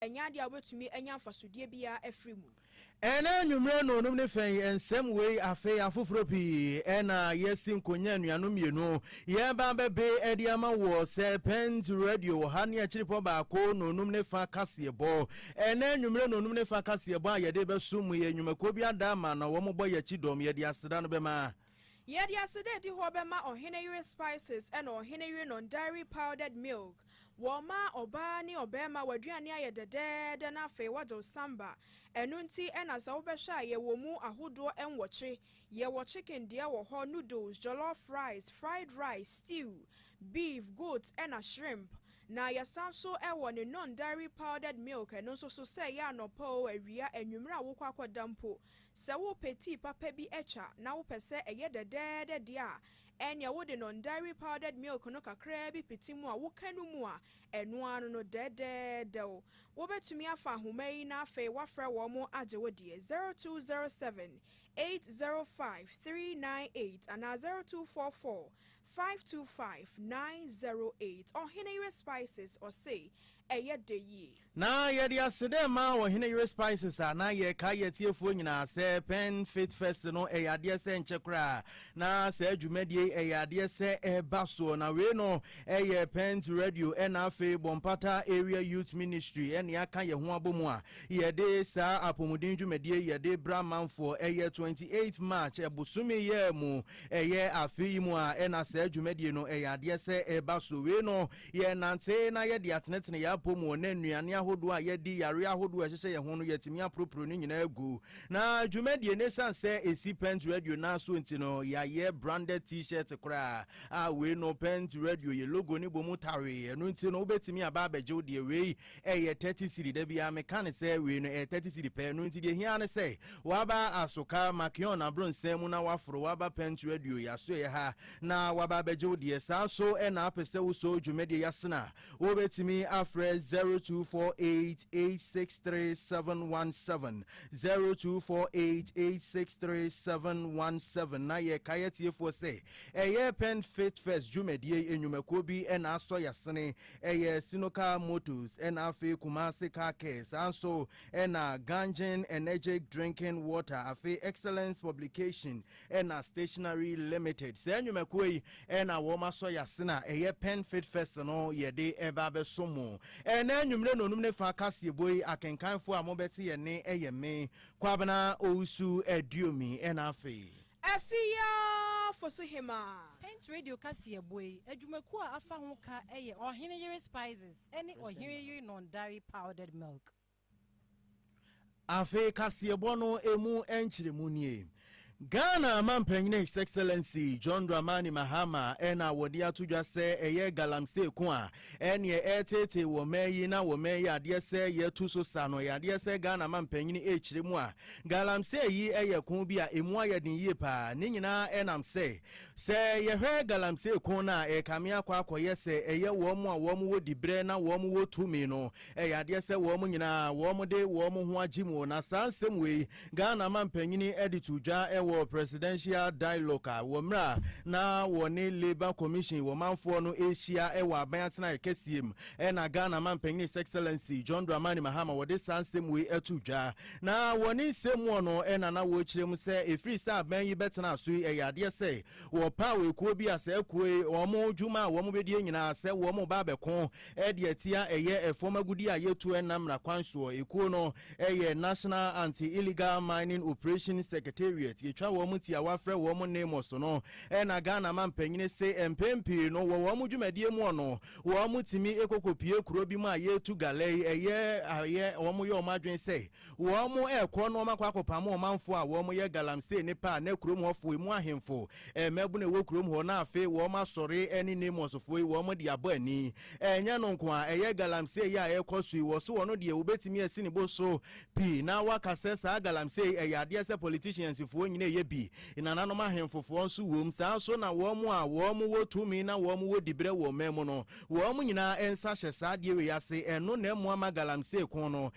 Ɛnyɛ adeɛ a wobɛtumi anya mfasodeɛ biara afiri mu. Ɛnnɛ anwummerɛ nnɔnum ne fɛ yi, nsɛm wei afei afoforɔ pii na yɛasi nkonya anuanom mmienu yɛreba abɛbe de ama wɔ Serpent Radio wɔ ha ne akyiripɔ baako nnɔnum ne fa kaseɛbɔ. Ɛnnɛ anwummerɛ nnɔnum ne fa kaseɛbɔ a yɛde bɛso mu yɛ nnwumakuo bi ada ama na wɔbɔ yɛn akyi dɔm yɛde aseda no bɛma. Yɛde aseda adi hɔ bɛma ɔhene yere spices ɛna ɔhene yere non-dairy powdered milk. Wɔma ɔbaa ne ɔbarima w'aduane ayɛ dɛdɛɛdɛ na afei wɔde wo san ba. Ɛno nti ɛna sɛ wobɛhwɛ a yɛwɔ mu ahodoɔ nwɔtwe. Yɛwɔ chicken deɛ wɔ hɔ, noodles, jollof rice, fried rice, stew, beef, goat ɛna shrimp. Na yɛsan nso wɔ ne non-dairy powdered milk ɛno nso so sɛ ɛyɛ anɔpa o, awia, anwummerɛ a wokɔ akɔda mpo Sɛ worepɛ tii papa bi atwa na wopɛ sɛ ɛyɛ dɛdɛɛdɛ deɛ a, ɛnneɛ wode non-dairy powdered milk no kakraa bi pete mu a woka no mu a, ɛno ara no no dɛdɛɛdɛw. Wobɛtumi afa ahoma yi na afei woafrɛ wɔn agye wo deɛ, 0207 805 398 anaa 0244 Five two five nine zero eight Ɔheneyere Spices ɔse ɛyɛ dɛ yie. Na yɛde aseda ma Ɔheneyere Spices a na yɛrekae atiefoɔ nyinaa sɛ Pen Faith Fest no ɛyɛ adeɛ sɛ ɛnkyɛ koraa na saa dwumadie yi ɛyɛ adeɛ sɛ ɛreba soɔ. Na wei no ɛyɛ Pent Radio ɛna afei Bɔmpata Area Youth Ministry ɛne aka yɛn ho abɔ mu a yɛde saa apɔmuden dwumadie yi yɛde bra amanfoɔ. Ɛyɛ twenty eight March ɛbosome yɛ mu. Ɛyɛ afe yi mu a na saa dwumadie no yɛ adeɛ sɛ ɛba so. Wei no, yɛnante na yɛde atenetene yɛn apɔ mu na nnuane ahodoɔ a yɛdi, yareɛ ahodoɔ a ɛhyehyɛ yɛn ho no, yɛatumi aporoporo ne nyinaa agu. Na dwumadie no, ɛsiane sɛ ɛsi Pent Radio nan so nti no, yɛayɛ branded T-shirt koraa a wei no Pent Radio yɛ logo no bɔ mu tawee. Ɛno nti no, wobɛtumi aba abɛgye wo deɛ. Wei ɛyɛ thirty cedi, da biara meka no sɛ wei no ɛyɛ thirty cedi pɛ, ɛno nti deɛ ɛhia ara ne sɛ waba Asoka, Makeon abrɔnsan mu na waforo waba Pent Radio yɛ asoɛeɛ ha na waba abɛgye wo deɛ. Saa nso na apɛ sɛ wosɔ dwumadie yi asene a, wobɛtumi afrɛ zero two four eight eight six three seven one seven, zero two four eight eight six three seven one seven, na yɛkae atiefoɔ sɛ ɛyɛ Pent Fit Fest dwumadie nnwumakuo bi na asɔ yɛ asene, Ɛyɛ Sinokar Motors ɛna afei Kumasi Car Care saa nso ɛna Ganjin Energic Drinking Water afei Excellence Publication ɛna Stationery Limited. Saa nnwumakuo yi ɛna wɔn asɔ yase na ɛyɛ Pen Fit Fest no yɛde ɛba abɛso mo. Ɛna anwummere nonum ne fa kaseɛbɔ yi akenkanfoɔ a mobɛte yɛ nne ɛyɛ me, Kwabena Owusu Aduomi ɛna afei. Afi yi ara fo so hemaa. Paint Radio kaseɛ boa yi adwumakuo a afa ho ka yɛ Ɔhene Yere Spices ne Ɔhene Yere Non-Dairy Powdered Milk. Afei kaseɛbɔ no ɛmu nkyerɛmu nie. Ghana Mampanin His Excellency John Dramani Mahama na wɔde ato dwa sɛ ɛyɛ Galamsey ko a Ɛneɛ ɛɛteetee wɔ mɛɛ yi na wɔ mɛɛ yi adeɛ sɛ yɛtu so sa no ɛyadeɛ sɛ Ghana mampanyini ɛɛkyire mu a Galamsey yi ɛyɛ ko bi a ɛmu ayɛ den yie paa ne nyinaa ɛnam sɛ sɛ yɛhwɛ Galamsey ko no a ɛɛkame akɔ akɔyɛ sɛ ɛyɛ wɔn a wɔn wɔ dibrɛ na wɔn wɔ tumi no Ɛyɛ adeɛ sɛ wɔn nyinaa wɔde wɔn ho agye mu na saa nsɛm wei Ghana mampanyini de too dwa wɔ Presidential Dialogue wɔ mmerɛ a na wɔne Labour Commission wɔ manfoɔ no rehyia wɔ aban atenaeɛ kɛseɛ mu na Ghana mampanyini His Excellency John Dramani Mahama wɔde saa nsɛm wei too dwa na wɔ ne nsɛm muɔ no na na wɔrekyerɛ mu sɛ ɛfiri sɛ aban yi bɛtena so yi ɛyɛ adeɛ sɛ wɔpaw ekuo bi a saa ekuo yi wɔn dwuma a wɔbɛdie nyinaa sɛ wɔn ba abɛko Ɛde atia ɛyɛ fam agudeɛ a yɛtu ɛnam mmara kwan soɔ. Ekuo no yɛ National Anti Illegal Mining Operations Secretariat, yɛtwa wɔn tiawa frɛ wɔn NAMOS no, ɛna Ghana mampanyini se mpɛn pii no wɔ wɔn dwumadie mu ɔno wɔn tumi kɔkɔpue kuro bi mu a yɛtu galɛ yi ɛyɛ ayɛ wɔn yɛ wɔn adwene sɛ Wɔrekɔ no wɔakɔ akɔpam ɔmanfo a wɔyɛ galamsey ne paa na kurom hɔfo, emu ahemfo, mmabun a ɛwɔ kurom hɔ na afei wɔasɔre ne Nemusfo yi wɔde abɔ ani. Ɛnyɛ no nko ara, ɛyɛ galamsey yi a ɛrekɔ so yi, wɔso ɔno deɛ wobetumi asi ne bo so pi na wɔaka sɛ saa galamsey yi ɛyɛ adeɛ sɛ politiciansfoɔ nyinaa yɛ bi, nananom ahemfofoɔ nso wom, saa ara nso na wɔn a wɔwɔ tumi na wɔwɔ diberɛ wɔ ɔman mu no, wɔn nyinaa nsa hyɛ saa adeɛ wei ase, ɛno na ɛmmoa ma galamsey ko no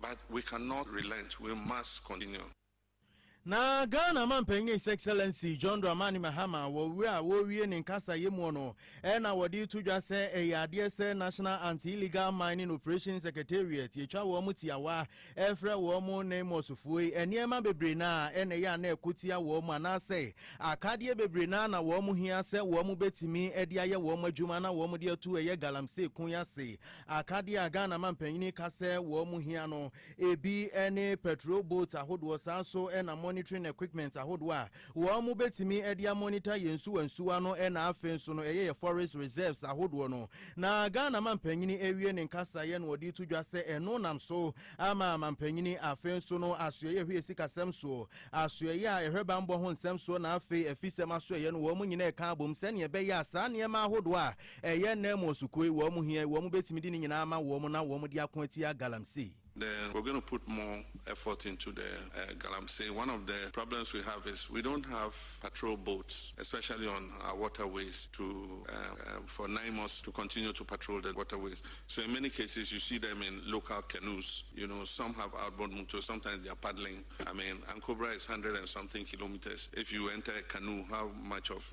But we can not relent, we must continue. Na Ghana Manpanyin His Excellency John Dramani Mahama wɔ wura a wɔrewie ne nkasayɛ mu no na wɔde reto dwa sɛ ɛyɛ adeɛ sɛ National Anti-Illegal Mining Operations Secretariat yɛtwa wɔn tiawa ɛfrɛ wɔn ne mmɔsofoɔ yi nneɛma bebree no a ɛna ɛyɛ a na ɛko tia wɔn anaasɛ akadeɛ bebree no a na wɔn hia sɛ wɔn bɛtumi de ayɛ wɔn adwuma na wɔn de ato ɛyɛ galamsey ko yi ase Akadeɛ a Ghana mampanyini ka sɛ wɔn hia no, ebi ne patrol boats ahodoɔ, saa nso na monitoring equipment ahodoɔ a wɔbɛtumi de a monitor yɛn nsuwa nsuwa no na afei nso no ɛyɛ yɛn forest reserves ahodoɔ no. Na Ghana mampanyini awie ne nkasaeɛ na ɔde to dwa sɛ ɛno nam so ama mampanyini afei nso no asoɛeɛ hwɛ sikasɛm soɔ, asoɛeɛ a ɛhwɛ bammɔ ho nsɛm soɔ na afei afisɛm asoɛeɛ no wɔn nyinaa reka abom sɛdeɛ ɛbɛyɛ a saa nneɛma ahodoɔ a Ɛyɛ nnɛ mo ɔsukoi, wɔn hia yi, wɔn bɛtumi de ne nyinaa ama wɔn na wɔn de ako atia Galamsey. The we're going to put more effort into the Galamsey one of the problems we have is we don't have patrol boats especially on our waterways to for NIMOS to continue to patrol the waterways so in many cases you see them in local canoes you know some have outboard motors sometimes they are paddling I mean Ankobra is hundred and something kilometers if you enter a canoe how much of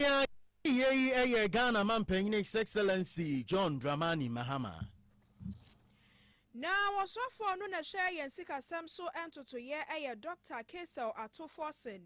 Nea yɛde yɛ yi yɛ Ghana Mampanyin His Excellency John Dramani Mahama. Na ɔsɔfoɔ no na ɛhwɛ yɛn sikasɛm so ntotoeɛ yɛ Dɔkta Kaysel Ato Forson.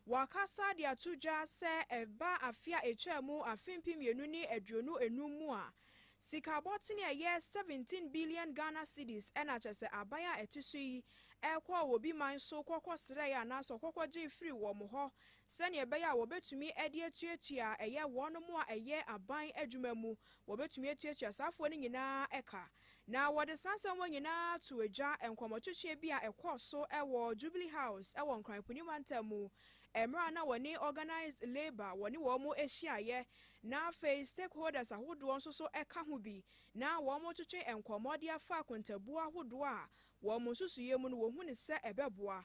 Wakasa de ato dwa sɛ ɛba afe a ɛtwaa mu afe mpem mmienu ne aduonu nnum mu a, sika bɔtene a ɛyɛ seventeen billion Ghana cedis na kyerɛ sɛ aban a ɛte so yi kɔɔ obi man so kɔkɔsrɛɛ anaasɛ ɔkɔkɔgyee firii wɔn hɔ sɛnea ɛbɛyɛ a wɔbetumi de atuatua a ɛyɛ wɔnom a ɛyɛ aban adwuma mu, wɔbetumi atuatua saa afoa no nyinaa ka. Na wɔde saa nsɛmma nyinaa too gya nkɔmmɔtwetwe bi a ɛkɔɔ so wɔ Jubilee House wɔ Nkran Puni Mantam mu, mmere a na wɔne Organised Labour wɔne wɔn hyiaeɛ, na afei stakeholders ahodoɔ nso so ka ho bi, na wɔretwetwe nkɔmmɔ de afa akontabuo ahodoɔ a wɔ wɔn nsusuiɛ mu no wɔhu no sɛ ɛbɛboa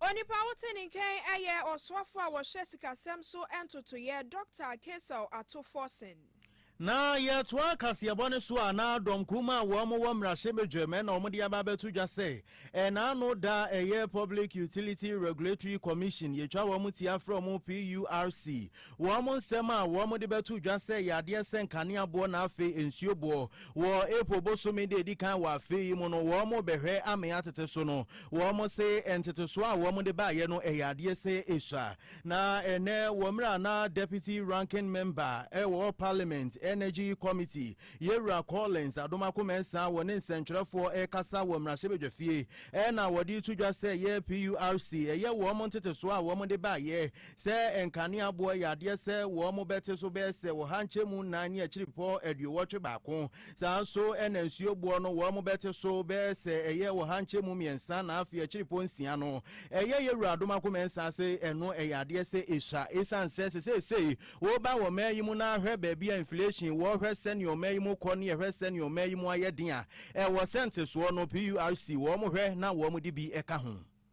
Onipa a wote ne nkyɛn yɛ ɔsoafo a ɔhyɛ sikasɛm so ntotoeɛ, Dɔkta Kaesel Atofɔsen. Na yɛtoa kaseɛbɔ no so a na dɔm kum a wɔn wɔ mmarahyɛbadwam ɛna wɔn de aba abɛto dwa sɛ ɛna ano da a ɛyɛ Public Utility Regulatory Commission yɛtwa wɔn ti afrɛ wɔn PURC Wɔn nsɛm a wɔde bɛto dwa sɛ yɛ adeɛ sɛ nkanea boɔ na afei nsuo boɔ. Wɔ April bosome da edi kan wɔ afe yi mu no, wɔrebɛhwɛ amee atete so no, wɔse ntetesoɔ a wɔde baeɛ no yɛ adeɛ sɛ esua. Na ɛnnɛ, wɔ mmerɛ a na Deputy Ranking Member wɔ Parliament Energy Committee, Yɛwura Collins Adomakomensah wɔ ne nsɛntwerɛfoɔ rekasa wɔ mmarahyɛbadwafie na wɔde reto dwa sɛ yɛ PURC yɛ wɔn ntetesoɔ a wɔde baeɛ Sɛ nkaneaboɔ yɛ adeɛ sɛ wɔn bɛte so bɛyɛ sɛ ɔha nkyɛmu nnan ne akyiripɔ aduowɔtwe baako, saa nso na nsuo boɔ no wɔn bɛte so bɛyɛ sɛ ɛyɛ ɔha nkyɛmu mmiɛnsa na afei akyiripɔ nsia no ɛyɛ yɛ wura adom ako mɛnsa ase. Ɛno ɛyɛ adeɛ sɛ ɛsua ɛsiane sɛ sɛ seesei wo ba wɔ man yi mu na hwɛ baabi a inflation wɔ, hwɛ sɛdeɛ ɔman yi mu kɔ ne hwɛ sɛdeɛ ɔman yi mu ayɛ den a, ɛwɔ sɛ ntesoɔ no PURC wɔn hwɛ na wɔn de bi ka ho.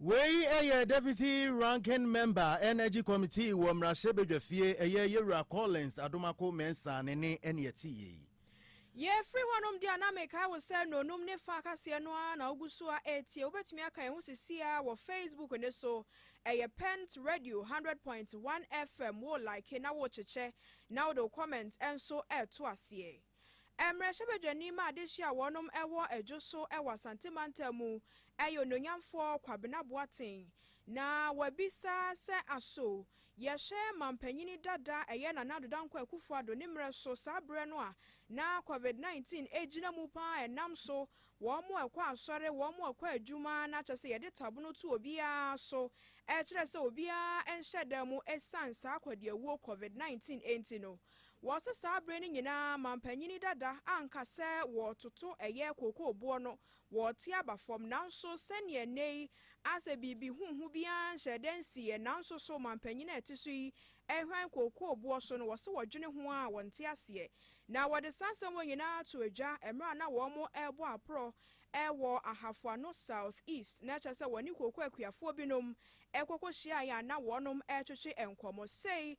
Wei yɛ Deputy Ranking Member Energy Committee wɔ Mmarahyɛbadwafie, ɛyɛ Yɛwura Collins Adomako Mensah ne nne ɛne ɛte yei. Yɛfiri hɔnom deɛ a na mekae wo sɛ nnɔnum ne fa akaseɛ no ara na wogu so a ɛretie. Wobɛtumi aka yɛn ho sesie ara wɔ Facebook no so. Ɛyɛ Pent Radio hundred point one FM. Wo like na wo kyekyɛ na wode wo comment nso reto aseɛ. Mmarahyɛbadwani ma adehye a wɔnom wɔ adwo so wɔ Asante mantam mu yɛ onuonyamfoɔ Kwabena Boateng na wabisa sɛ aso yɛhwɛ mampanyini dada ɛyɛ Nana Addo Dankwa Akufo Addo ne mmerɛ so saa berɛ no a na covid 19 ɛgyina mu paa ɛnam so wɔn a ɛkɔ asɔre wɔn a ɛkɔ adwuma na kyɛ sɛ yɛde tabono to obiara so ɛkyerɛ sɛ obiara nhyɛ da mu ɛsiane saa akɔdeawuo covid 19 ɛnti no Wɔse saa bere no nyinaa manpanyini dada anka sɛ wɔtoto ɛyɛ kookooboɔ no wɔ te aba fam nanso sɛdeɛ nnɛ yi asɛ biribi huhu biara nhyɛɛ da nsiiɛ nanso so manpanyini a ɛte so yi hwan kookooboɔ so no wɔse wɔdwene ho a wɔnte aseɛ na wɔde saa nsɛm wɔ nyinaa too dwa mmerɛ a na wɔn rebɔ aporɔ Ɛwɔ Ahafo Ano South East na kyerɛ sɛ wɔne kooko akuafoɔ binom kɔkɔ hyiaeɛ a na wɔnom retwetwe nkɔmmɔ. Sei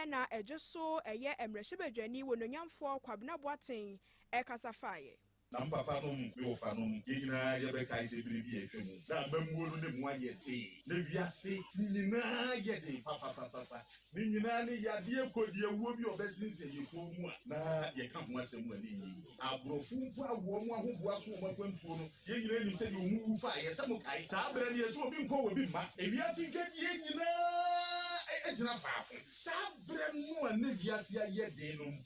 na ɛdwo so yɛ mmarahyɛbadwani wɔnuonyamfoɔ Kwabena Boateng kasa faeɛ. Na me papa nom, me wɔfa nom, yɛn nyinaa yɛbɛkae sɛ bere bi a atwa mu na amammuo no na mu ayɛ den, na wiase nyinaa yɛ den papapapapa, Ne nyinaa ne yadeɛ kodiawuo bi a ɔbɛsensɛn yɛn kɔn mu a na yɛka ho asɛm a na ɛnyɛ yie. Aborɔfo mpo a wɔn ahoboa so wɔn akwantuo no, yɛn nyinaa nim sɛdeɛ wɔn wu faa yɛn. Sɛ mokae, saa berɛ no yɛse obi nkɔ obi mma. Ewiase dwadie nyinaa gyina faako. Saa berɛ no a na wiase ayɛ den no,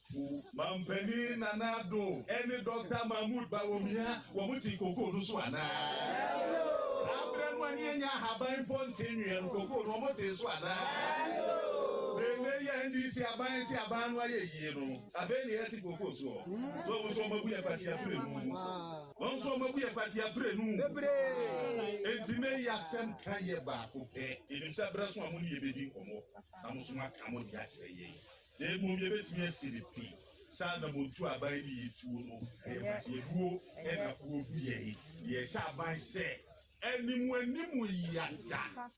Manpanin Nana Addo ne Dɔkta Mahmood Bawumia, wɔte kokoo no so anaa? Saa berɛ no a ne yɛnnya ahaban mpo nte nweɛ no, kokoo no wɔtee so anaa? Na ɛnnɛ yi a NDC aban asi aban no ayɛ yie no, afei na yɛte kokoo soɔ. So wɔn nso wɔabu yɛn kwasia prenu? Wɔn nso wɔabu yɛn kwasia prenu? Enti nnɛ yi asɛm ka yɛ baako pɛ, yɛnim sɛ berɛ so a mo ne yɛn bɛdi nkɔmmɔ na mo nso moaka mo deɛ akyerɛ yɛn. Na mmom yɛbɛtumi asi no pi sɛ anammɔntuo a aban de yɛn tuo no yɛ kwasiabuo na buo gu yɛn. Yɛhyɛ aban sɛ anim anim yɛada.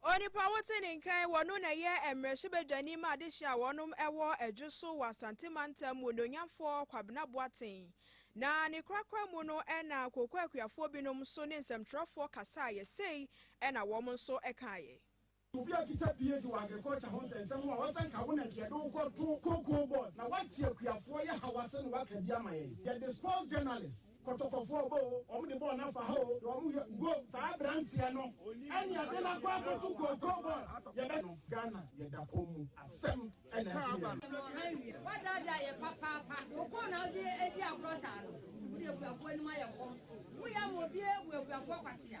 Onipa wote ne nkan wɔ no na ɛyɛ mmarahyɛbadwani ma adehye a wɔnom ɛwɔ adwo so wɔ Asante mantam mu onuonyamfoɔ Kwabena Boateng na ne korakora mu no ɛna Kooko akuafoɔ binom nso ne nsɛmtwerɛfoɔ kasaeɛ sei ɛna wɔn nso ɛkaeɛ. Obi a okita PhD wɔ agriculture ho nsɛnsɛm ho a wasan ka wo na nka yɛde wo kɔto cocoa board na woate akuafoɔ yɛ haw ase na woaka bi ama yɛn. Yɛde sports journalist, kɔtɔkɔfoɔ ɔbɔ o, wɔn de bɔɔl no afa ha o, deɛ wɔn yɛ ngo. Saa aberanteɛ no ɛne yɛde no akɔ akɔto cocoa board. Yɛbɛ no Ghana yɛda kɔm mu asɛm ɛna ɛto yɛn. Ɛno ɔha awie. Woadaadaa yɛn papaapa. Wo kɔn na wode adi agorɔ saa no. Wode akuafoɔ anim ayɛ kɔm. Woyɛ ama obiara abu akuafoɔ kwatea.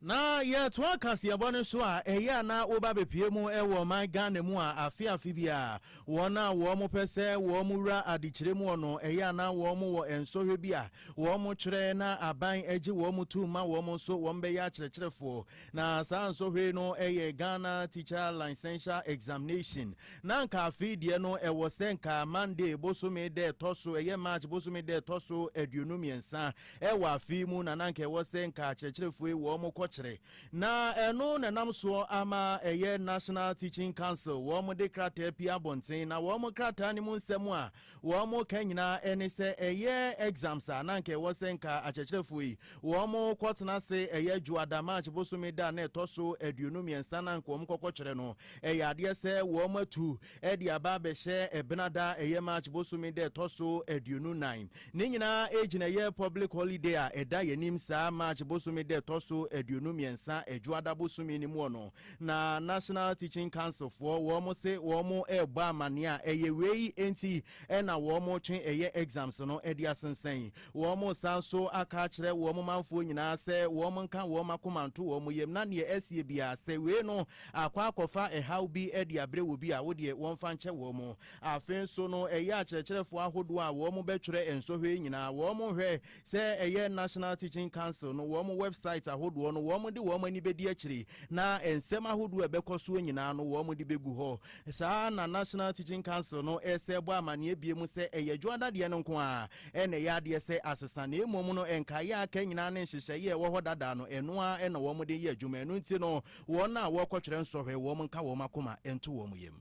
Na yɛtoa kaseɛbɔ no so a, ɛyɛ a na woba bɛpue mu wɔ ɔman Ghana mu a afe afe biara wɔn a wɔpɛ sɛ wɔwura adekyerɛ mu hɔ no, ɛyɛ a na wɔwɔ nsɔhwɛ bi a wɔkyerɛ na aban gye wɔn tom ma wɔn nso wɔbɛyɛ akyerɛkyerɛfoɔ. Na saa nsɔhwɛ yi no yɛ Ghana Teacher Licential Examination. Na anka afei deɛ no ɛwɔ sɛ anka Monday bosome da ɛtɔ so, ɛyɛ March bosome da ɛtɔ so aduonu mmiɛnsa Ɛwɔ afe yi mu na na anka ɛwɔ sɛ nka akyerɛkyerɛfo yi wɔn kɔkyerɛ, na ɛno na ɛnam soɔ ama ɛyɛ National Teaching Council wɔn de krataa pie abɔnten, na wɔn krataa no mu nsɛm a wɔn ka nyinaa ne sɛ ɛyɛ exams a na anka ɛwɔ sɛ nka akyerɛkyerɛfo yi wɔn kɔtena ase ɛyɛ Dwoada, March bosome da a na ɛtɔ so aduonu mmiɛnsa na anka wɔn kɔkɔkyerɛ no. Ɛyɛ adeɛ sɛ wɔn atu de aba abɛhyɛ Ɛbenada ɛyɛ March bosome da ɛtɔ so aduonu nan. Ne nyinaa ɛgyina yɛ public holiday a ɛda yɛnim saa March bosome da ɛtɔ so aduonu mmiɛnsa Adwoada bosome no muɔ no na National Teaching Council foɔ wɔn se wɔn rebɔ amaneɛ a ɛyɛ wei nti na wɔn retwe ɛyɛ exams no de asensɛn. Wɔn san nso aka akyerɛ wɔn manfoɔ nyinaa sɛ wɔn nka wɔn akoma nto wɔn yam na neɛ asie biara sɛ wei no akɔ akɔfa ɛhaw bi de abrɛ obi a wodeɛ wɔmfa nkyɛ wɔn. Afei nso no, ɛyɛ akyerɛkyerɛfoɔ ahodoɔ a wɔbɛtwerɛ nsɔhwɛ yi nyinaa, wɔhwɛ sɛ ɛyɛ National Teaching Council no wɔn website ahodoɔ no, wɔde wɔn ani bɛdi akyire, na nsɛm ahodoɔ a ɛbɛkɔ soɔ nyinaa no wɔde bɛgu hɔ. Saa ara na National Teaching Council no san bɔ amanneɛ biom sɛ ɛyɛ dwoɔ dadeɛ no nko ara na ɛyɛ adeɛ sɛ asesa, na mmom no nkaeɛ a aka nyinaa ne nhyehyɛeɛ a ɛwɔ hɔ dada no, ɛno ara na wɔde yɛ adwuma. Ɛno nti no, wɔn a wɔrekɔtwerɛ nsɔhwɛ, wɔnka wɔn akoma nto wɔn yam.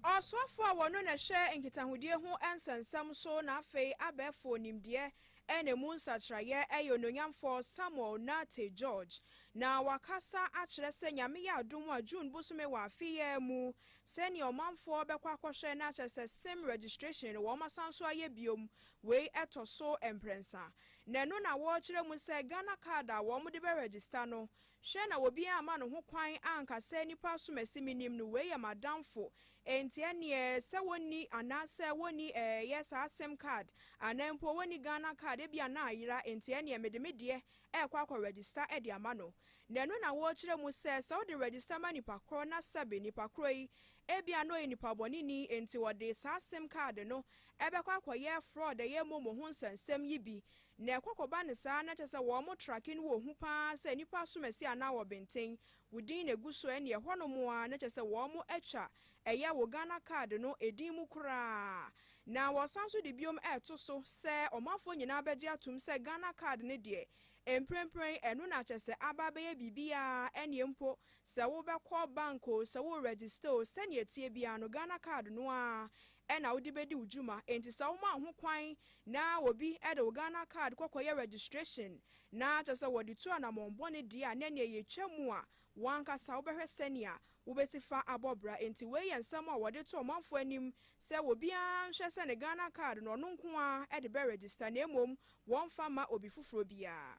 Ɔsoafo a wɔno na ɛhwɛ nkitahodie ho nsɛnsɛm so na afei abɛɛfo nimdeɛ na emu nsakyeraeɛ yɛ Onuonyamfoɔ Samuel Nartey George na wakasa akyerɛ sɛ Nyame yɛ adom a June bosome wɔ afe yi ara mu sɛnea ɔmanfoɔ bɛkɔ akɔhwɛ na kyerɛ sɛ sim registration no wɔn asan so ayɛ biom wei ɛtɔ so mprɛnsa na ɛno na wɔrekyerɛ mu sɛ Ghana card a wɔn de bɛ register no Hwɛ na obiara amma ne ho kwan anka sɛ, Nnipa asomasi menim no, wei yɛ m'adamfo, enti ɛnneɛ sɛ wɔnni anaasɛ wɔnni ɛɛyɛ saa sim card anaa mpo wɔnni Ghana card, ebia na ayera, enti ɛnneɛ mede me deɛ rekɔ akɔ register de ama no. Na ɛno na wɔrekyerɛ mu sɛ, sɛ wode register ma nipa korɔ na sɛbe nipa korɔ yi ebia na ɔyɛ nipabɔneni enti ɔde saa sim card no bɛkɔ akɔyɛ fraud, ɛyɛ momo ho nsɛnsɛm yi bi, Na ɛkɔ kɔba no saa na kyerɛ sɛ wɔn trake no wɔ hu paa sɛ nnipa asom asi anaa wɔ benten, wo din na egu so ɛneɛ ɛhɔ nom aa na kyerɛ sɛ wɔn atwa ɛyɛ wo Ghana card no ɛdin mu koraa. Na wɔsan nso de biom ɛɛto so sɛ ɔmanfoɔ nyinaa bɛgye atom sɛ Ghana card no deɛ mprempren ɛno na kyerɛ sɛ aba abɛyɛ biribiaa ɛneɛ mpo sɛ wo bɛkɔ bank oo sɛ wo register oo sɛneɛ ɛteɛ biaa no Ghana card no aa na wode bɛdi wo dwuma. Enti sɛ woma wo ho kwan na obi de wo Ghana card kɔ kɔyɛ registration na kyerɛ sɛ wɔde tu anammɔn bɔne deɛ a, na ɛneɛ yɛtwa mu a w'ankasa wobɛhwɛ sɛnea wobɛsi fa abɔ bra. Enti wei yɛ nsɛm a wɔde to ɔmanfoɔ anim sɛ obiara nhwɛ sɛ ne Ghana card no ɔno nko ara de bɛ register na mmom wɔmfa mma obi foforɔ biara.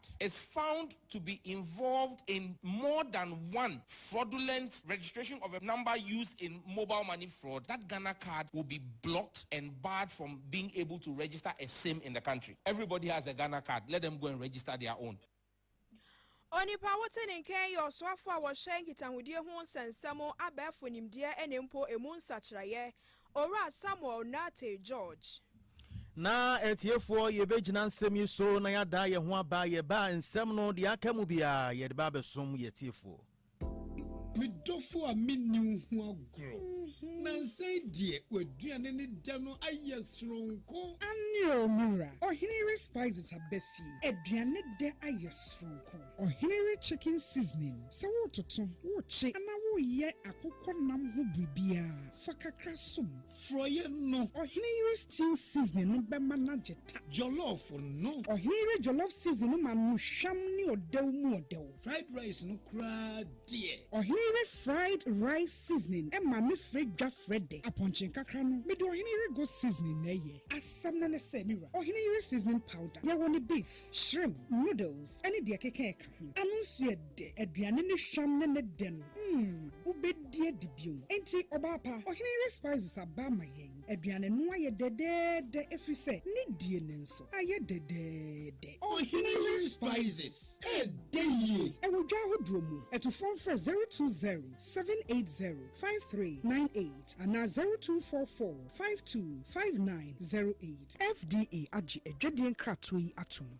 is found to be involved in more than one fraudulent registration of a number used in mobile money fraud, that Ghana card will be blocked and barred from being able to register a sim in the country. Everybody has a Ghana card, let them go and register their own. Onipa a wote ne nkan yɛ ɔsoafo a ɔhwɛ nkitahodie ho nsɛnsɛm, abɛɛfo nimdeɛ ne mpo emu nsakyeraeɛ. Owura Samuel Nartey George. Na atiefoɔ yɛbɛgyina nsɛm yi so na yɛada yɛn ho aba yɛba a nsɛm no deɛ aka mu biara yɛde ba abɛsom yɛatiefoɔ. Me dɔfo a menni wo ho agorɔ. Nansa yi deɛ w'aduane ne dɛ no ayɛ soronko. Aane o me wura, ɔhene yere Spices aba fie, aduane dɛ ayɛ soronko. Ɔhene we chicken seasoning, sɛ woretoto, worekye anaa woreyɛ akokɔ nam ho biribiara, fa kakra som. Forɔeɛ no. Ɔhene yere stew seasoning no bɛma no agye ta. Jollof no. Ɔhene yere jollof seasoning no ma no hwam ne ɔdɛw mu ɔdɛw. Fried rice no koraa deɛ. Ɔhene yere fried rice seasoning ma me frɛ dwa frɛ dɛ. Apɔnkye nkakra no, mede ɔhene yere goat seasoning na ɛyɛ. Asɛm no ne sɛ, me wura, ɔhene yere seasoning powder, yɛwɔ ne beef. Shrimp, noodles ne deɛ ɛkeka ɛka ho. Ano nso yɛ dɛ. Aduane ne hwam ne ne dɛ no, mm, wobɛdi adi bio. Enti, ɔbaa pa, ɔhene yere Spices aba ama yɛn. Aduane no ayɛ dɛdɛɛdɛ ɛfiri sɛ ne die no nso ayɛ dɛdɛɛdɛ. Ɔhene yere Spices, ɛdɛ yie! Ɛwɔ dwa ahodoɔ mu. Atufoɔ mfrɛ zero two zero, seven eight zero, five three nine eight anaa zero two four four. Five two five nine zero eight. FDA agye adwadie nkratoɔ yi atom.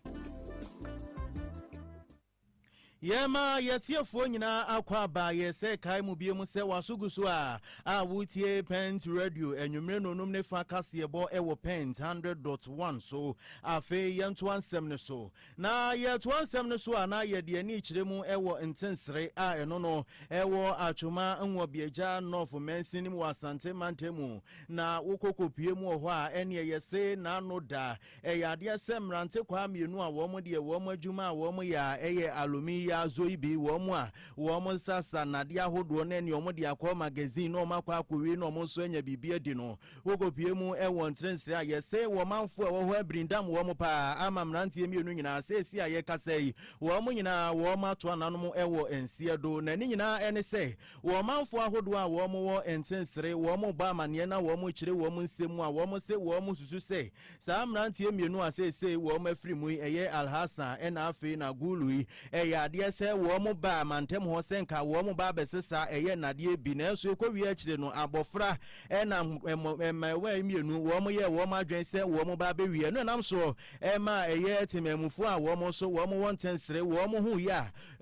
Yɛma yɛtiefoɔ nyinaa akɔ aba yɛ sɛ kae mu bie mu sɛ waso gu so a a wotie Pent Radio anwummere nonum ne fa kaseɛbɔ wɔ Pent 100.1 so. Afei yɛntoa nsɛm no so. Na yɛtoa nsɛm no so a, na yɛde ani kyerɛ mu wɔ Ntensere a ɛno no ɛwɔ Atwoma Nwoabiagya North Mansin no mu wɔ Asante Mantam mu. Na wokɔ kɔpue mu wɔ hɔ a, ɛnneɛ yɛse n'ano da. Ɛyɛ adeɛ sɛ mmerantekwaa mmienu a wɔn deɛ wɔn adwuma a wɔn yɛ a ɛyɛ Alumi Yazoyi bi, wɔn a wɔn sasa nnadeɛ ahodoɔ na ɛnneɛ wɔn de akɔ magazine na wɔn akɔ akɔwie na wɔn nso anya biribi adi no, Wokopue mu wɔ nserɛnsrɛ a yɛse wɔ manfoɔ a ɛwɔ hɔ abirindam wɔn paa ama mmeranteɛ mmienu nyinaa. Seesei a yɛkasa yi, wɔn nyinaa wɔato ananom wɔ nseɛ do, na ne nyinaa ne sɛ wɔ manfoɔ ahodoɔ a wɔwɔ nsensere wɔn bɔ amaneɛ na wɔkyerɛ wɔn nsɛm mu a wɔse wɔsusu sɛ Saa mmeranteɛ mmienu a seesei wɔn afiri mu yi, ɛyɛ Alhassan ɛna afei na Gulu yi, ɛyɛ adeɛ sɛ wɔn baa mantam hɔ sɛ nka wɔn ba abɛsesa ɛyɛ nnadeɛ bi, nanso ɛkɔwie akyire no, abɔfra ɛna mmaawa yi mmienu, wɔn yɛɛ wɔn adwene sɛ wɔn ba abɛwie. Ɛno ɛnam so maa ɛyɛ temanmufoɔ a wɔn nso wɔn wɔ ntɛnsere wɔn ho yɛ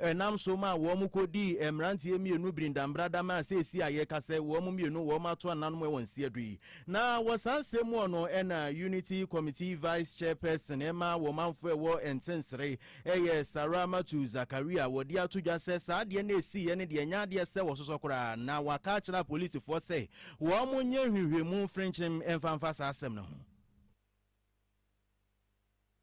a ɛnam so maa wɔn kɔdii mmeranteɛ mmienu birindambrada maa seesei a yɛrekasa yi, wɔn mmienu wɔn ato ananom wɔ nsiadui. Na wɔ saa nsɛm mu hɔ no, ɛna Unity Committee Vice Chairperson ɛma wɔ manfoɔ ɛwɔ Nsensere ɛyɛ Sarah Mathew Zakaria, wɔde ato dwa sɛ saa adeɛ no a ɛsiiɛ no deɛ ɛnyɛ adeɛ sɛ wɔsosɔ koraa na waka akyerɛ apolisifoɔ sɛ wɔnyɛ nhwehwɛmu mfrenkyem mfa mfa saa asɛm no ho.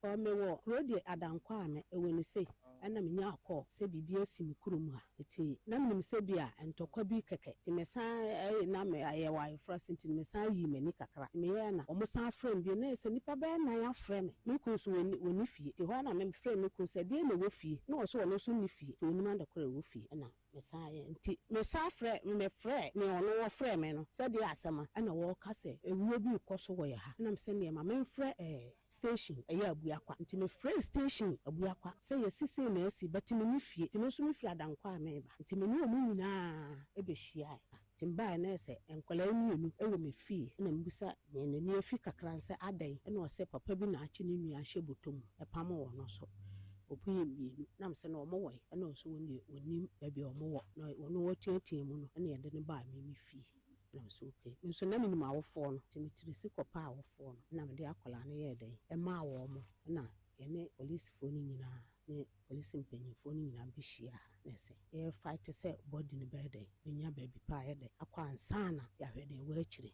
Ɔ me wɔ kuro deɛ adankwa a me wɔ no sei ɛna me nya kɔ sɛ biribi asi me kuro mu a ɛti na me nim sɛ bi a ntɔkwa bi kɛkɛ ti me san ɛɛ na me yɛ wɔ ayefra si nti me san yii m'ani kakra ti me yɛ na ɔmo san frɛ me bio na yɛ sɛ nipa bɛyɛ nan afrɛ me me kunu nso ɔni ɔni fie ti hɔ a na me frɛ me kunu sɛ deɛ na ɛwɔ fie na ɔse ɔno nso nni fie ti ɔnim adekorɔ ɛwɔ fie ɛna Mesaeɛ nti mesan frɛɛ no, mefrɛɛ nea ɔno ɔfrɛɛ me no sɛ deɛ asɛm a ɛna wɔreka sɛ awuo bi rekɔ so wɔ yɛ ha nam sɛ neɛ ma memfrɛ ɛɛ station ɛyɛ Abuakwa nti mefrɛɛ station Abuakwa sɛ yɛsi sei na asi but menni fie nti me nso mefiri Adankwa a mereba nti me ne wɔn nyinaa bɛhyiaeɛ. Nti mbae no sɛ nkwadaa yi mmienu wɔ me fie na mebisa nea n'ani afi kakra no sɛ adɛn na ɔsɛ papa bi na akye ne nua ahyɛ bɔtɔ mu pamo wɔn no so wɔbɔ yɛ mmienu na mese na wɔn wɔ he na ɔse wɔn deɛ ɔnnim baabi a wɔn wɔ na ɔno ɔteatea mu no na yɛde no baa me me fie na mese okay me nso na menim awofoɔ no nti me tiri si kɔ pɛ awofoɔ no na mede akwadaa no yɛɛ dɛn maa wɔn na yɛne polisfoɔ no nyinaa ne Polisi mpanyimfoɔ no nyinaa bɛhyia ha na sɛ yɛ fight sɛ body no bɛyɛ dɛn bɛnya baabi pa a ɛyɛ dɛ akɔ ansa na yɛahwɛ deɛ ɛwɔ akyire.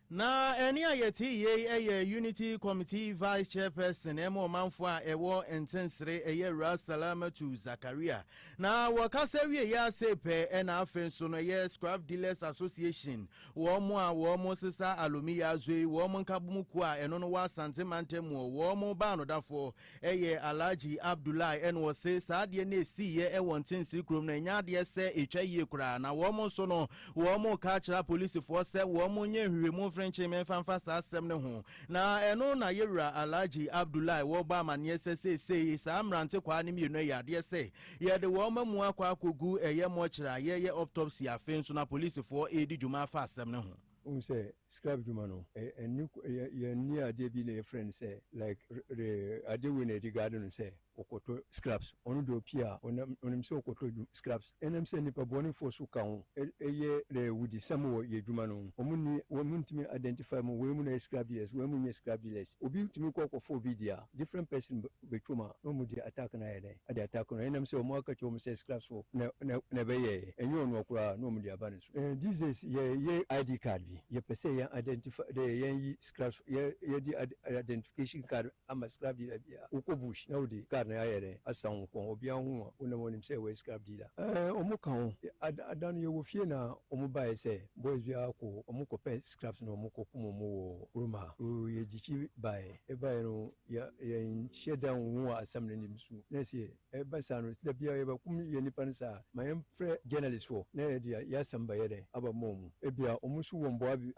Na ɛnne a yɛte yei yɛ Unity Committee Vice Chairperson ma ɔmanfoɔ a ɛwɔ Ntensere ɛyɛ Awuraa Salamatu Zakaria. Na wɔkasa wieeɛ ara sei pɛ na afei nso no ɛyɛ Scrap Dealers Association wɔn a wɔn sesa alumi yi azo yi wɔn nkabom kuo a ɛno no wɔ Asante mantam mu wɔn baanodafoɔ Ɛyɛ Alhaji Abdullahi na ɔse saa adeɛ no ɛsiiɛ wɔ Ntsensiri kurom no ɛnyɛ adeɛ sɛ ɛtwa yie koraa na wɔn nso no wɔn reka akyerɛ apolisifoɔ sɛ wɔn nyɛ nhwehwɛmu mfiri nkyeme mfa mfa saa asɛm no ho na ɛno na yɛwura Alhaji Abdullahi wɔrebɔ amaneɛ sɛ seesei saa mmerantekwaa no mmienu ɛyɛ adeɛ sɛ yɛde wɔn amu akɔ akɔgu ɛyɛ mɔkyere a yɛyɛ optopsy afei nso no apolisifoɔ redi dwuma afa asɛm no ho. Wohu sɛ scrap dwuma no ɛnni yɛnni adeɛ bi na yɛfrɛ no sɛ like re adeɛ wei na yɛde guard no sɛ ɔkɔtɔ scraps ɔno deɛ ɔpie a ɔnam ɔnim sɛ ɔkɔtɔ dwum scraps ɛnam sɛ nnipa bɔnefoɔ nso ka ho ɛyɛ re wudisɛm wɔ yɛ dwuma no ho wɔn nni wɔn ntumi identify mu wei mu na yɛ scrap dealers wei mu nyɛ scrap dealers obi tumi kɔ kɔfa obi deɛ a different person bɛtwa mu a na ɔmo de attack no ayɛ dɛn de attack no ɛnam sɛ ɔmo aka kyerɛ ɔmo sɛ scraps fo na na ɛbɛyɛɛ ɛnyɛ ɔnoa koraa na ɔmo de aba ne so ɛɛ these days yɛ yɛ ID card bi yɛ pɛ sɛ yɛn identify dɛ yɛn yi scraps yɛ yɛ de identification card ama scrap dealer bi a wokɔ bush na wode card no ayɛ dɛn asan wo kɔn obiara hu wo a wonam ɔnim sɛ wɔ yɛ scrap dealer ɛɛ ɔmo ka ho ada ada no yɛ wɔ fie na ɔmo baeɛ sɛ boys bi ara kɔ ɔmo kɔ pɛ scraps na ɔmo kɔ kum ɔmo wɔ kurom ha oo yɛ gyikyi baeɛ yɛ baeɛ no Yɛ yɛnhyɛ da nnhu wɔ asɛm no anim so. Na sɛ ɛba saa no, da biara yɛbɛkum yɛn nnipa no saa a, ma yɛmfrɛ journalists foɔ na yɛde yɛn asɛm bɛyɛ dɛn? Aba ma wɔn. Ebia wɔn nso wɔ mmoa bi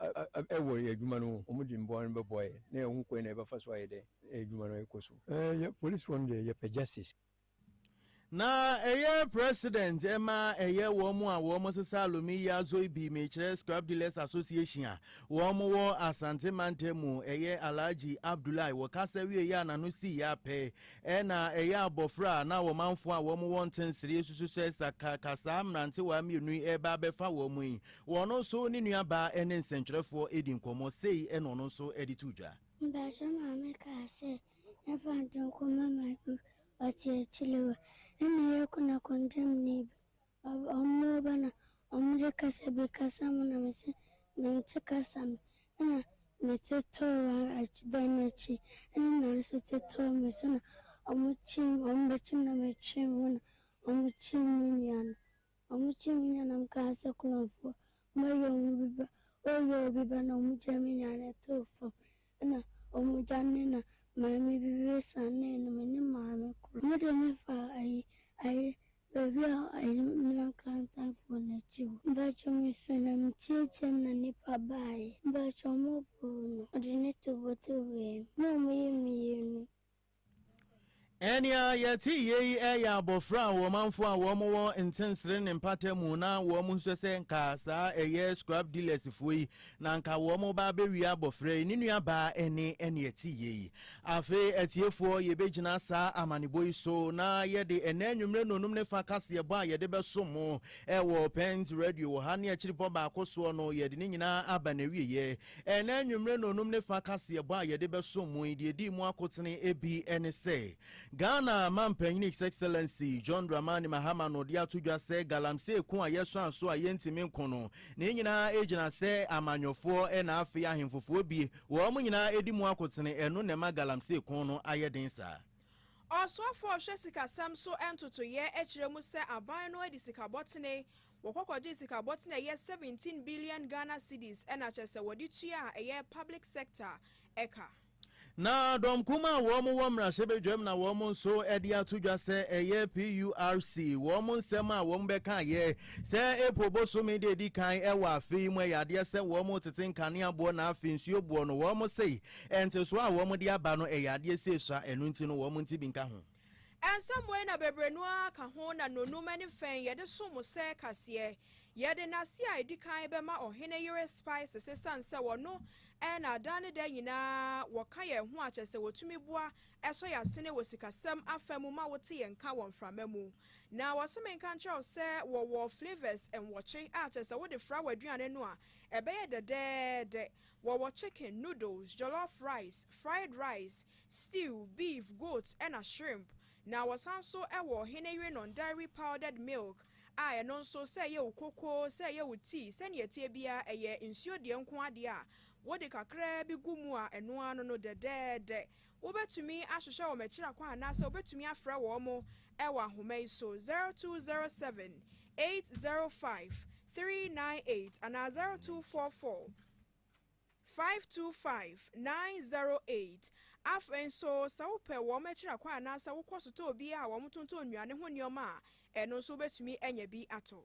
wɔ yɛn adwuma no ho. Wɔde mmoa no bɛboa yɛn na yɛahu kwan a yɛbɛfa so ayɛ dɛn na yɛn adwuma no akɔ so. Ɛɛ yɛ policefoɔ no deɛ yɛpɛ justice. Na ɛyɛ president ɛma ɛyɛ wɔn a wɔn sesa alumi yi azoi bi mekyerɛ scrap dealers association a wɔn wɔ asante mantam mu ɛyɛ alhaji abdullahi wɔ kasa wie yɛ a n'ano si yɛ apɛ ɛna ɛyɛ abɔfra a na wɔn anfo a wɔn wɔ ntensere susu sɛ saka kasaa mmerantewa mmienu yi ɛba abɛfa wɔn yi wɔn nso ne nua baa ɛne nsɛntwerɛfoɔ ɛdi nkɔmɔ sei ɛna ɔno nso ɛde to dwa. Mpakyɛ maame kaa sɛ Yɛfa Ntonkoma Magu ɔte akyire hɔ ɛna yɛ kuna kondam ni bi ɔmo ba na ɔmo de kasa bi kasa mo na me se me nte kasa no ɛna me te tɔɔ akyi dan no akyi ɛna me maame nso te tɔɔ me so na ɔmo kye ɔmo bɛkye me na me twe me ho na ɔmo kye me nua no. Wɔkyee me nua na mekaa sɛ, Korɔmfoɔ, wɔayi wɔn bi ba. Wɔyii wɔn bi ba na wɔgyaa me nua no too fam. Ɛnna wɔdwanee na maame bi bɛsianee no, me ne maame koro. Wɔde me faa ayi, ayi, baabi a ayi, mmena nkrantanfoɔ no akyi hɔ. Mpakyɛw mesu na meteateaam na nnipa baeɛ. Mpakyɛw moboo no. Wɔde no tobotoboeɛ me na wɔyii me yii no. Nea yɛte yɛ yi yɛ abɔfra a ɔmanfo a wɔn wɔ ntensere ne mpata mu na wɔn nsɔ sɛ nka saa ɛyɛ scrap dealers foɔ yi na nka wɔn ba abɛwia abɔfra yi ne nua baa ɛne ɛne ɛte yɛ yi. Afei atiefoɔ yɛbɛgyina saa amanebɔ yi so na yɛde ɛnɛ anwummerɛ nnɔnum ne fa kaseɛbɔ a yɛde bɛso mo ɛwɔ Pent Radio wɔ ha ne akyiripɔ baako soɔ no yɛde ne nyinaa aba n'awieɛ. Ɛnnɛ anwummere nnɔnnum ne fa kaseɛbɔ a yɛde bɛsom mu yi, deɛ ɛdii mu akotene bi ne sɛ, Ghana Mampanin His Excellency John Dramani Mahama no de ato dwa sɛ galamsey ko a yɛsan so a yɛntumi nko no, ne nyinaa gyina sɛ amanyɔfoɔ na afei ahemfofoɔ bi, wɔn nyinaa di mu akotene, ɛno na ɛma galamsey ko no ayɛ den saa. Ɔsoafoɔ a ɔhwɛ sikasɛm so ntotoeɛ kyerɛ mu sɛ aban no adi sikabɔtene Wɔkɔ kɔgyee sika bɔten a ɛyɛ seventeen billion Ghana cedis na kyerɛ sɛ wɔde tua a ɛyɛ public sector ka. Na dɔm kumaa a wɔn wɔ mmarahyɛbadwam na wɔn nso de ato dwa sɛ ɛyɛ PURC wɔn nsɛm a wɔn bɛkaeɛ sɛ April bosome da edi kan wɔ afe yi mu ɛyɛ adeɛ sɛ wɔn retete nkanea boɔ na afei nsuo boɔ no wɔn se ntesoɔ a wɔn de aba no ɛyɛ adeɛ sɛ esua ɛno nti no wɔn nte bi nka ho. Ɛnsɛ mmɔe na bebree no ara ka ho na nnɔnnum ne fɛn yɛde som sɛ kaseɛ. Yɛde nase a ɛdi kan bɛma ɔhene yere Spices ɛsiane sɛ ɔno na adaa ne da nyinaa wɔka yɛn ho a kyerɛ sɛ wɔtumi boa sɔ yɛn asene wɔ sikasɛm afa mu ma wote yɛn nka wɔ mframa mu. Na wɔse menka nkyerɛ wo sɛ wɔwɔ flavours nwɔtwe a kyerɛ sɛ wode fra w'aduane no a ɛbɛyɛ dɛdɛɛdɛ. Wɔwɔ chicken, noodles, jollof rice, fried rice, stew, beef, goat na shrimp. Na wɔsan nso wɔ Hene Yerenon Dairy Powdered Milk a ɛno nso sɛ ɛyɛ wo kokoo, sɛ ɛyɛ wo tea, sɛnea ɛteɛ biara ɛyɛ nsuo deɛ nko ara deɛ a wode kakraa bi gu mu a ɛno ara no no dɛdɛɛdɛ. Wobɛtumi ahwehwɛ wɔn akyiri kwan anaasɛ wobɛtumi afrɛ wɔn wɔ ahoma yi so, 0207 805 398 anaa 0244. 525-908. Afei nso, sɛ wopɛ wɔn akyiri akwan anaasɛ wokɔ sotɔɔ bi a wɔtontɔn nnuane ho nneɛma a, ɛno nso wubetumi anya bi atɔ.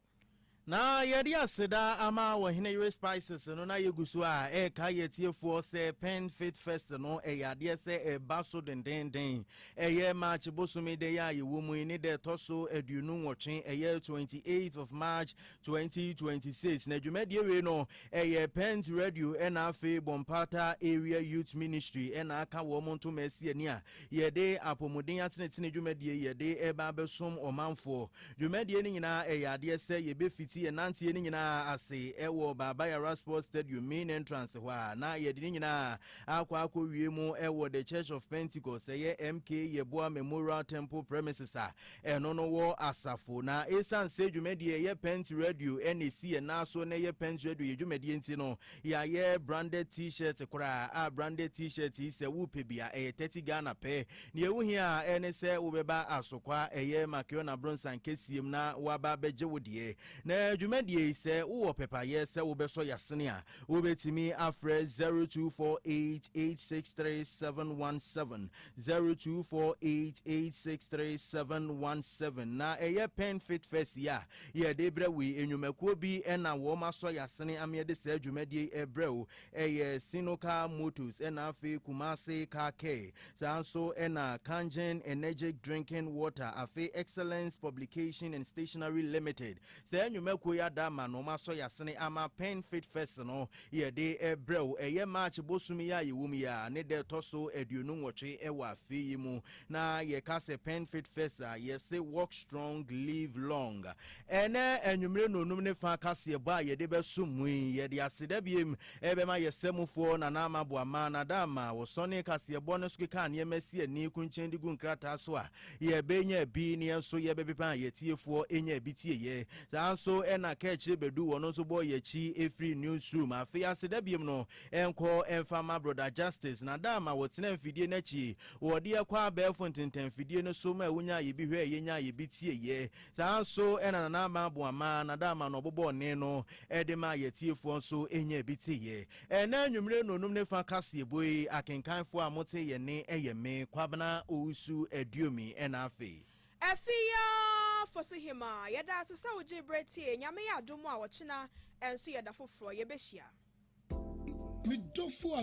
Na yɛde aseda ama Ɔhene Yere Spices no na yɛgu so a ɛreka yɛn atiefoɔ sɛ Pen Fit Fest no ɛyɛ adeɛ sɛ ɛreba so dendeenden. Ɛyɛ March bosome da yi a yɛwɔ mu yi ne da ɛtɔ so aduonu nwɔtwe, ɛyɛ 28th of March 2026 na dwumadie wei no ɛyɛ pent radio ɛna afei bɔmpata area youth ministry ɛna aka wɔn ntoma asi ani a yɛde apɔmuden atenetene dwumadie yɛde ɛba abɛsom ɔmanfoɔ dwumadie no nyinaa ɛyɛ adeɛ sɛ yɛbɛfiti yɛn nanteɛ no nyinaa ase ɛwɔ baabayara sports stadium main entrance hɔ a na yɛde no nyinaa akɔ akɔ wie mu ɛwɔ the church of pentecost ɛyɛ mk yɛboa memorial temple premises a Ɛno no wɔ asafo. Na esiane sɛ dwumadie a ɛyɛ Pent Radio na ɛsi yɛn nan so na ɛyɛ Pent Radio yɛ dwumadie nti no, yɛayɛ branded T-shirt koraa a branded T-shirt yi sɛ wopɛ bi a ɛyɛ thirty Ghana pɛ. Nea ɛho hia ara ɛne sɛ wobɛba Asokwa a ɛyɛ Makeona Abronsan kɛseɛm na woaba abɛgye wo deɛ. Na dwumadie yi sɛ wowɔ pɛpayɛ sɛ wobɛsɔ yɛasene a, wobɛtumi afrɛ zero two four eight eight six three seven one seven. Zero two four eight eight six three seven one seven na ɛyɛ pen fit fest yi a yɛde brɛ wo yi nnwumakuo bi ɛna wɔn asɔ yasene ameɛ de saa dwumadie yi ɛbrɛ wo ɛyɛ sinoka motors ɛna afei kumase car care saa nso ɛna kangen energetic drinking water afei excellence publication and stationery limited Saa nnwumakuo yi ada ama no wɔasɔ y'asene ama Pen Fit Fest no yɛde brɛ wo. Ɛyɛ March bosom yi a yɛwɔ mu yi ara ne da ɛtɔ so aduonu nwɔtwe wɔ afe yi mu. Na yɛka sɛ Pen Fit Fest a, yɛse Walk Strong, Live Long. Ɛnnɛ anwummere nnɔnnum ne fa kaseɛbɔ a yɛde bɛsom mu yi, yɛde aseda biom bɛma yɛ samufoɔ Nana Ama Boamah. Nada Ama, wosɔnee kaseɛbɔ no so kekaa nneɛma si ani, kunkyɛn de gu nkrataa so a Yɛbɛnya bi ne yɛn nso yɛbɛpepa a yɛtiefoɔ nyaa bi tieeɛ. Saa nso na Kaakyire Badu wɔn nso bɔɔ yɛn akyi firii newsroom. Afei aseda biom no nkɔ mfa ma Brɔda Justice na da ma wɔtenaa mfidie no akyi. Wɔde yɛn kɔɔ abɛɛfo ntentanmfidie no so ma wonyaa yɛn bi hwɛɛ yɛn nyaa yɛn bi tieeɛ. Saa nso na Nana Ama Aboama na da ma na ɔbobɔɔ nne no de maa yɛn atiefoɔ nso nyaa bi tieeɛ. Ɛnnɛ anwummere nnɔnnum ne fa kaseɛbɔ yi, akenkanfoɔ a mote yɛn nne ɛyɛ me, Kwabena Owusu Aduomi, ɛna afei. Afeeaa Fosuhemaa, yɛda ase sɛ wo gyee berɛ tiee, Nyame yɛ adom a ɔkyena nso yɛda foforɔ yɛbɛhyia. Me dɔfo a.